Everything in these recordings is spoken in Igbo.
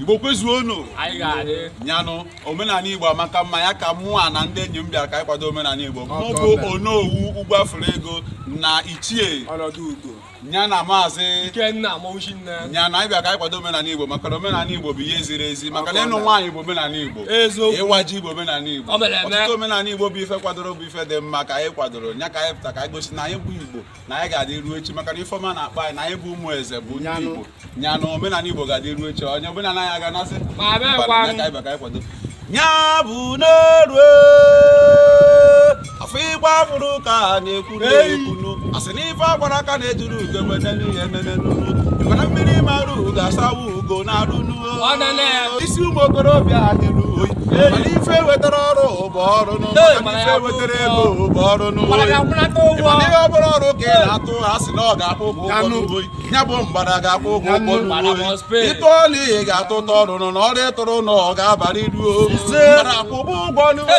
igbo kwezuonu nyanụ omenala igbo amaka mma ya ka mụa na ndị enyi m bịara ka anyị kwado omenala igbo mụ bụ onowu ugwu afụrụ ego na ichie ya na maazị ya na anyị bịa ka anyị kwado omenala igbo maka na omenala igbo bụ ihe ziri ezi maka na ịnụ nwaanyị bụ omenala igbo ịwa ji bụ omenala igbo ọtụtụ omenala igbo bụ ife kwadoro bụ ife dị mma ka anyị kwadoro ya ka anyị pụta ka anyị gosi na anyị bụ igbo na anyị ga-adị ruo echi maka na ife ọma na-akpa anyị na anyị bụ ụmụ eze bụ ndị Igbo nyanụ omenala Igbo ga-adị ruo echi onye omenala anyị aga-anasị nya bụ n'oru afọ ịgba fụrụ ka a na-ekwu n'ekwunu a sị na ife agbara aka na-ejuru ugo emene n'ihe emene n'unu mana mmiri mara ugo asawa ugo n'arụ isi ụmụ okorobịa adịrụ oyi mana ife wetara ọrụ bụ ọrụ ife wetara ego bụ ọrụ n'ụwa ihe ọ bụla ọrụ ka ị na-atụ ha sị na ọ ga-akwụ ụgwọ ụgwọ n'ugbo ya bụ mgbada ga-akwụ ụgwọ ụgwọ n'ugbo ịtụ ọrụ ihe ga-atụ ụtọ ọrụ na ọrụ ịtụrụ na ọ ga-abara ị uru mgbada akwụ ụgwọ n'ugbo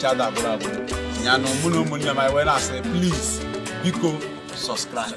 chada abụrụ abụ nyanụ mụ na ụmụnne m anyị wee na-asị please biko subscribe